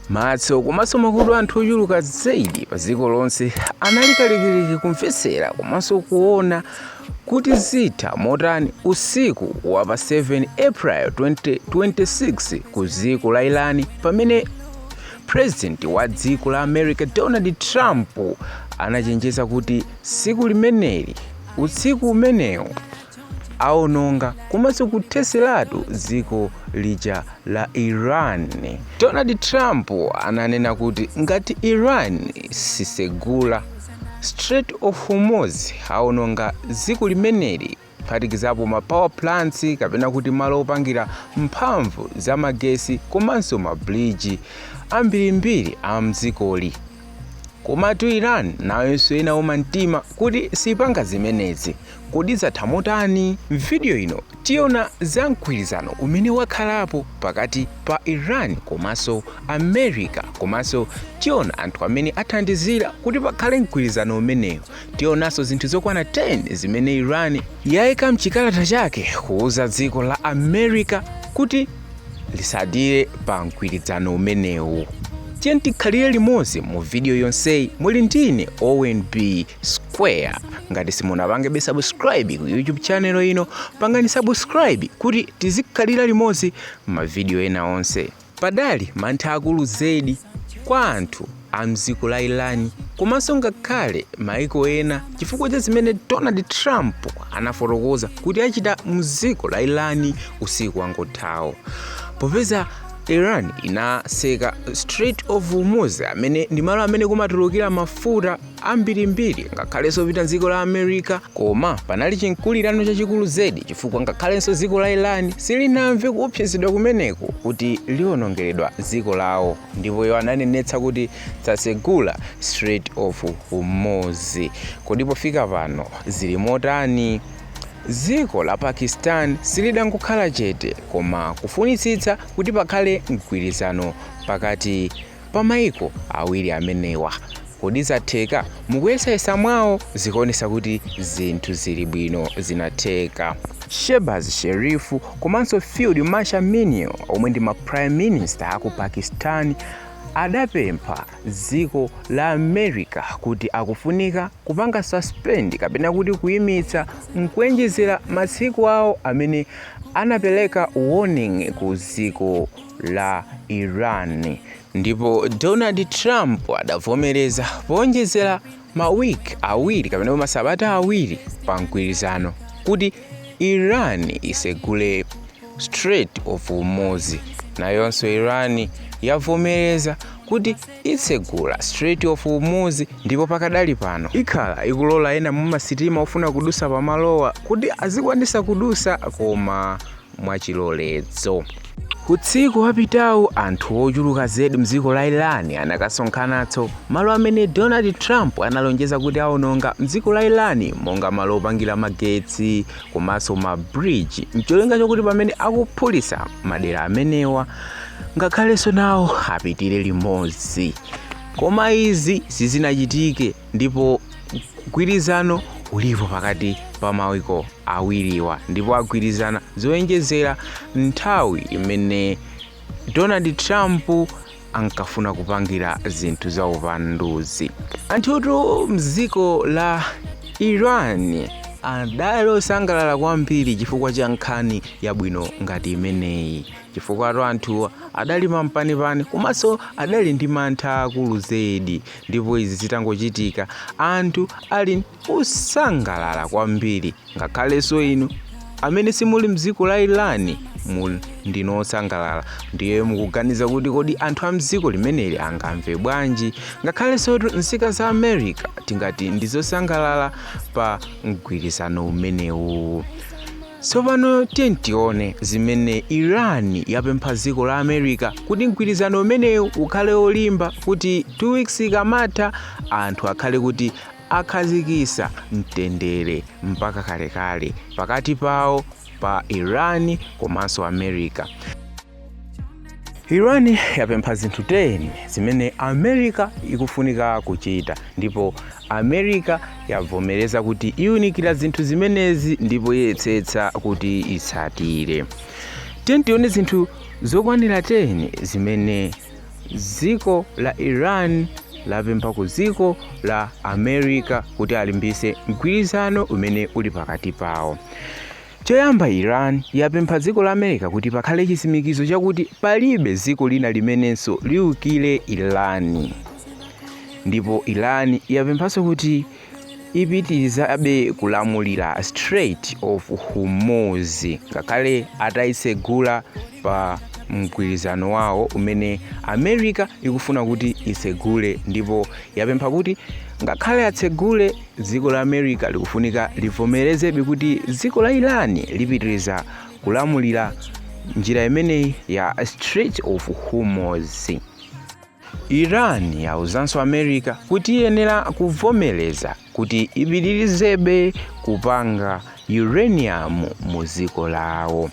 Maso komanso makutu a anthu ochuluka zedi pa dziko lonse anali kalikiliki kumvetsera komanso kuona kuti zitha motani usiku wa pa 7 April 2026 ku dziko la Iran pamene president wa dziko la America Donald Trump anachenjeza kuti tsiku limeneli utsiku umenewu aononga komanso kutheseratu dziko lija la iran donald trump ananena kuti ngati iran sisegula strait of hormuz aononga dziko limeneli kuphatikizapo ma power plants kapena kuti malo opangira mphamvu za magesi komanso mabridge ambirimbiri a mdzikoli Komatu Iran nayonso inauma mtima kuti sipanga zimenezi. Kodi zatha motani? M'vidiyo ino tiona za mgwirizano umene wakhalapo pakati pa Iran komanso America komanso tiona anthu amene athandizira kuti pakhale mgwirizano umenewu. Tionanso zinthu zokwana 10 zimene Iran yaika m'chikalata chake kuuza dziko la America kuti lisatire pa mgwirizano umenewu tiyeni tikhalire limodzi mu vidiyo yonseyi muli ndine Owen B Square ngati simunapangebe subscribe ku youtube channel ino pangani subscribe kuti tizikhalira limodzi mavidiyo ena onse padali mantha akulu zedi kwa anthu a m'dziko la Iran komanso ngakhale maiko ena chifukwa cha zimene Donald Trump anafotokoza kuti achita m'dziko la Iran usiku wangothawo. Popeza Iran inaseka Strait of Hormuz amene ndi malo amene kumatulukira mafuta ambirimbiri ngakhalenso opita m'dziko la America koma panali chinkulirano chachikulu zedi chifukwa ngakhalenso dziko la Iran silinamve kuopsezedwa kumeneko kuti liwonongeredwa dziko lawo. ndipo iwo ananenetsa kuti satsegula Strait of Hormuz. Kodi pofika pano zili motani? Dziko la Pakistan silidangokhala chete koma kufunitsitsa kuti pakhale mgwirizano pakati pa maiko awiri amenewa. Kodi zatheka? Mukuyesayesa mwawo zikuonesa kuti zinthu zili bwino zinatheka. Shehbaz Sharif komanso Field Marshal Munir omwe ndi ma Prime Minister aku Pakistan adapempha dziko la America kuti akufunika kupanga suspend kapena kuti kuimitsa nkuenjezera matsiku awo amene anapeleka warning ku dziko la Iran ndipo donald trump adavomereza poonjezera mawiki awiri kapena pa masabata awiri pa mgwirizano kuti iran isegule strait of hormuz nayonso iran yavomereza kuti itsegula strait of hormuz ndipo pakadali pano ikhala ikulola ena mumasitima ofuna kudutsa pamalowa kuti azikwanitsa kudutsa koma mwachilolezo. Usiku wapitawu anthu ochuluka zedi mdziko la Iran anakasonkhanatso malo amene Donald Trump analonjeza kuti awononga mdziko la Iran monga malo opangira magetsi komanso ma bridge mcholinga chokuti pamene akuphulitsa madera amenewa ngakhalenso nawo apitire limodzi koma izi sizinachitike ndipo mgwirizano ulipo pakati pa maiko awiriwa ndipo agwirizana zoonjezera nthawi imene donald trump ankafuna kupangira zinthu za upanduzi. anthutu mdziko la iran adali osangalala kwambiri chifukwa cha nkhani yabwino ngati imeneyi chifukwatu anthuwa adali mampanipani komanso adali ndi mantha akulu zedi Ndipo izi zitangochitika, anthu ali osangalala kwambiri. Ngakhalenso inu amene simuli m'dziko la Iran muli ndinu osangalala. Ndiye mukuganiza kuti kodi anthu a m'dziko limeneli angamve bwanji? Ngakhalensotu nzika za America tingati ndi zosangalala pa mgwirizano umenewu. Tsopano tiyeni tione zimene Iran yapempha dziko la America kuti mgwirizano umenewu ukhale wolimba kuti 2 weeks ikamatha anthu akhale kuti akhazikitsa mtendere mpaka kalekale pakati pawo pa Iran komanso America. iran yapempha zinthu 10 zimene america ikufunika kuchita ndipo america yavomereza kuti iwunikira zinthu zimenezi ndipo iyesetsa kuti itsatire tiyeni tione zinthu zokwanira 10 zimene dziko la iran lapempha ku dziko la america kuti alimbitse mgwirizano umene uli pakati pawo Choyamba Iran yapempha dziko la America kuti pakhale chitsimikizo chakuti palibe dziko lina limenenso liukire Iran. Ndipo Iran yapemphanso kuti ipitirizabe kulamulira Strait of Hormuz ngakhale ataitsegula pa mgwirizano wawo umene America ikufuna kuti itsegule ndipo yapempha kuti ngakhale atsegule Dziko la America likufunika livomerezebe kuti dziko la Iran lipitiriza kulamulira njira imeneyi ya Strait of Hormuz. Iran yauzanso America kuti iyenera kuvomereza kuti ipitirizebe kupanga uranium mu dziko lawo.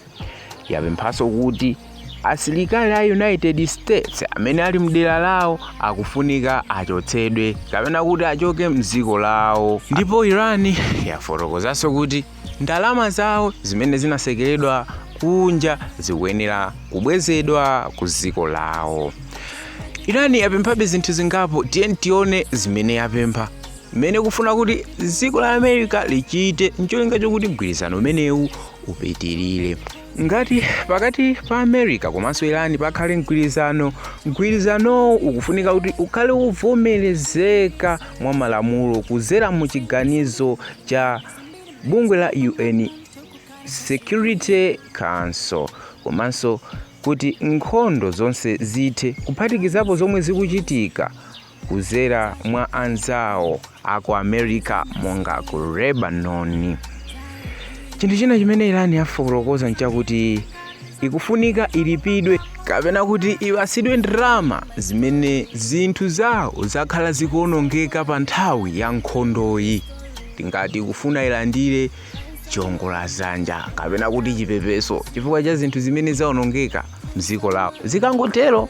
yapemphanso kuti asilikali a united states amene ali mdera lawo akufunika achotsedwe kapena kuti achoke mdziko lawo ndipo iran yafotokozanso kuti ndalama zawo zimene zinatsekeredwa kunja zikuyenera kubwezedwa ku dziko lawo iran yapemphabe zinthu zingapo tiyeni tione zimene yapempha zimene ikufuna kuti dziko la america lichite ncholinga chokuti mgwirizano umenewu upitirire. Ngati pakati pa America komanso Iran pakhale mgwirizano, mgwirizanowu ukufunika kuti ukhale wovomerezeka mwa malamulo kudzera mu chiganizo cha bungwe la UN Security Council komanso kuti nkhondo zonse zithe, kuphatikizapo zomwe zikuchitika kudzera mwa anzawo aku america monga ku lebanon chinthu china chimene irani yafotokoza nchakuti ikufunika ilipidwe kapena kuti ipatsidwe ndalama zimene zinthu zawo zakhala zikuonongeka pa nthawi ya nkhondoyi tingati ikufuna ilandire chiongola dzanja kapena kuti chipepeso chifukwa cha zinthu zimene zaonongeka mdziko lawo zikangotero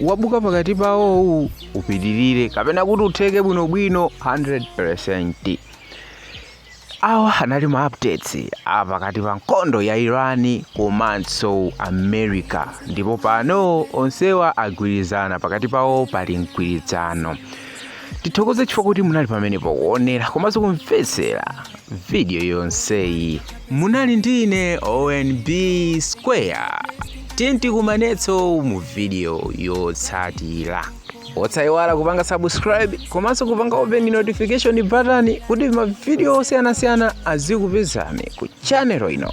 wabuka pakati pawowu upitirire kapena kuti utheke bwinobwino 100% awa anali ma updates a pakati pa nkhondo ya irani komanso america ndipo pano onsewa agwirizana pakati pawo pali mgwirizano tithokoze chifukwa choti munali pamenepo kuonera komanso kumvetsera video yonseyi munali ndi ine onb square tiyeni tikumanenso mu video yotsatira osayiwala kupanga subscribe komanso kupanga open notification button kuti mavidiyo osiyanasiyana azikupezani ku channel ino